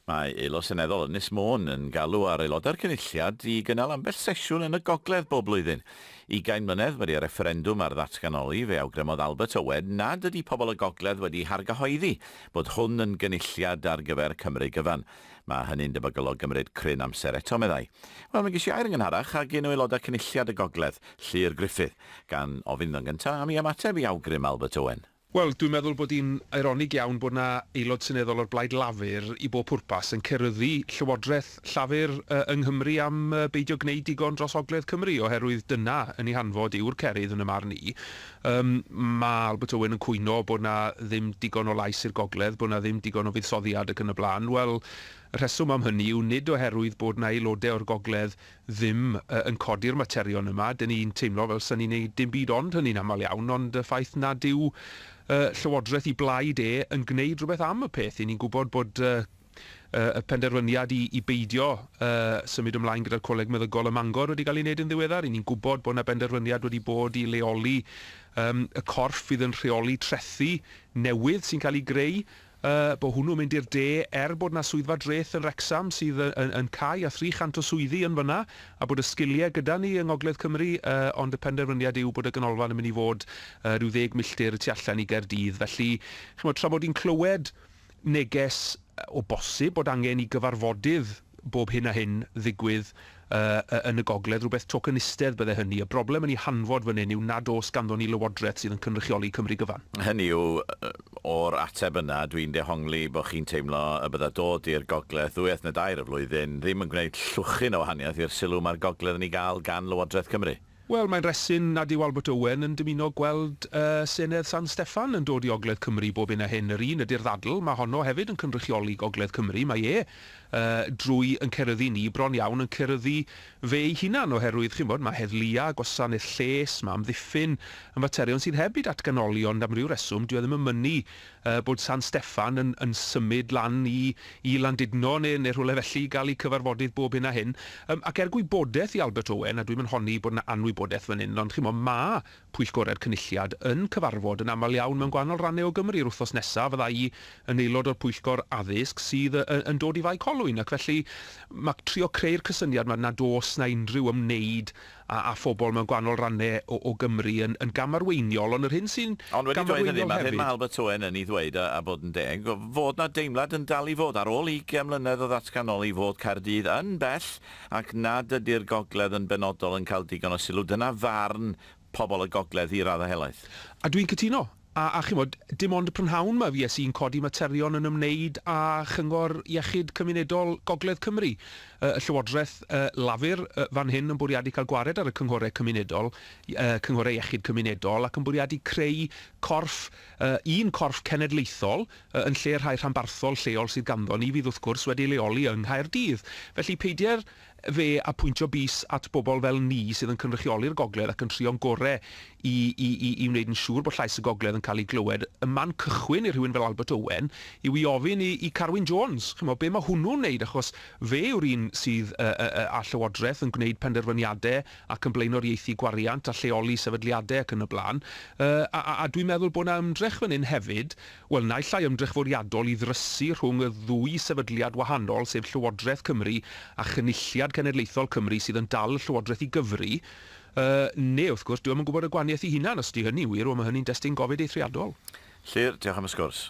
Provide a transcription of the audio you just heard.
Mae Aelod Seneddol Ynys Môn yn galw ar Aelodau'r Cynulliad i gynnal ambell sesiwn yn y Gogledd bob blwyddyn. Ugain mlynedd wedi y refferendwm ar ddatganoli, fe awgrymodd Albert Owen nad ydi pobl y Gogledd wedi hargyhoeddi bod hwn yn gynulliad ar gyfer Cymru gyfan. Mae hynny'n debygol o gymryd cryn amser eto, meddai. Wel, mi ges i air yn ngynharach ag un o Aelodau Cynulliad y Gogledd, Llŷr Gruffydd. Gan ofyn yn gyntaf am i ymateb i awgrym Albert Owen. Wel, dwi'n meddwl bod hi'n eironig iawn bod 'na Aelod Seneddol o'r Blaid Lafur i bob pwrpas yn ceryddu Llywodraeth Llafur yng Nghymru am beidio gwneud digon dros Ogledd Cymru, oherwydd dyna yn ei hanfod yw'r cerydd yn y marn i. Yym, mae Albert Owen yn cwyno bod 'na ddim digon o lais i'r Gogledd, bod 'na ddim digon o fuddsoddiad ac yn y blaen. Wel, y rheswm am hynny yw nid oherwydd bod 'na Aelodau o'r Gogledd ddim yn codi'r materion yma, dyn ni'n teimlo fel 'sa ni'n neud dim byd ond hynny'n aml iawn, ond y ffaith nad yw Llywodraeth i blaid e yn gwneud rhywbeth am y peth, 'yn ni'n gwybod bod y penderfyniad i beidio symud ymlaen gyda'r Coleg Meddygol ym Mangor wedi cael ei wneud yn ddiweddar, 'yn ni'n gwybod bod 'na benderfyniad wedi bod i leoli y corff fydd yn rheoli trethi newydd sy'n cael ei greu Y bo hwnnw'n mynd i'r de, er bod 'na swyddfa dreth yn Wrecsam sydd yn cau a thri chant o swyddi yn fan'na, a bod y sgiliau gyda ni yng Ngogledd Cymru, ond y penderfyniad yw bod y ganolfan yn mynd i fod ryw ddeg milltir y tu allan i Gaerdydd. Felly, chimod, tra bod hi'n clywed neges o bosib bod angen i gyfarfodydd, bob hyn a hyn ddigwydd yn y gogledd, rhywbeth tokenistedd bydde hynny. Y broblem yn ei hanfod fan hyn yw nad oes ganddon ni Lywodraeth sydd yn cynrychioli Cymru gyfan. Hynny yw, o'r ateb yna, dwi'n dehongli bod chi'n teimlo y bydda dod i'r gogledd ddwy wythno dair y flwyddyn ddim yn gwneud llwchyn o wahaniaeth i'r sylw mae'r gogledd yn ei gael gan Lywodraeth Cymru. Wel, mae'n resyn nad yw Albert Owen yn dymuno gweld y Senedd San Steffan yn dod i Ogledd Cymru bob hyn a hyn. Yr un ydy'r ddadl, mae honno hefyd yn cynrychioli Gogledd Cymru. Mae e, drwy yn ceryddu ni, bron iawn yn ceryddu fe ei hunan, oherwydd, chimod, mae heddlua, gwasanaeth lles, mae amddiffyn, yn faterion sydd heb eu datganoli, ond am ryw reswm, dyw e ddim yn mynnu bod San Steffan yn yn symud lan i i Landudno ne' ne' rhywle felly i ga'l 'u cyfarfodydd bob hyn a hyn. Yym ac er gwybodeth i Albert Owen, a dwi'm yn honni bod 'na anwybodeth fan 'yn, ond ch'mo' ma' pwyllgore'r Cynulliad yn cyfarfod yn amal iawn mewn gwahanol ranne o Gymru. Yr wthnos nesa fydda i yn aelod o'r pwyllgor addysg sydd y- y- yn dod i Fae Colwyn ac felly ma' trio creu'r cysyniad 'ma nad o's 'na unrhyw ymwneud a a phobl mewn gwahanol rannau o o Gymru yn yn gamarweiniol, ond yr hyn sy'n Ond wedi dweud hynny, gamarweiniol ma'r hyn hefyd... ma' Albert Owen yn 'i ddweud, a a bod yn deg, fod 'na deimlad yn dal i fod, ar ôl ugain mlynedd o ddatganoli, fod Caerdydd yn bell ac nad ydi'r gogledd yn benodol yn cael digon o sylw. Dyna farn pobl y gogledd i raddau helaeth. A dwi'n cytuno. A, a chimod, dim ond y prynhawn 'ma fues i'n codi materion yn ymwneud â Chyngor Iechyd Cymunedol Gogledd Cymru. Y Llywodraeth Lafur fan hyn yn bwriadu cael gwared ar y Cynghorau Cymunedol, Cynghorau Iechyd Cymunedol, ac yn bwriadu creu corff, un corff cenedlaethol, yn lle rhai rhanbarthol lleol sydd ganddo ni fydd wrth gwrs wedi ei leoli yng Nghaerdydd. Felly peidier Fe a pwyntio bys at bobl fel ni sydd yn cynrychioli'r gogledd ac yn trio'n gore i i i i wneud yn siŵr bod llais y gogledd yn cael ei glywed. Y man cychwyn i rhywun fel Albert Owen yw i ofyn i i Carwyn Jones, chimo, be mae hwnnw'n wneud achos fe yw'r un sydd yy yy yy â llywodraeth yn gwneud penderfyniade ac yn blaenoriaethu gwariant a lleoli sefydliade ac yn y blaen yy a a a dwi'n meddwl bod 'na ymdrech fan hyn hefyd Wel, naill ai ymdrech fwriadol i ddrysu rhwng y ddwy sefydliad wahanol, sef Llywodraeth Cymru a Chynulliad Cenedlaethol Cymru sydd yn dal y Llywodraeth i gyfri, yy, neu, wrth gwrs, dwi ddim yn gwybod y gwahaniaeth i hunan, os ydy hynny'n wir, wel, mae hynny'n destun gofid eithriadol. Llyr, diolch am y sgwrs.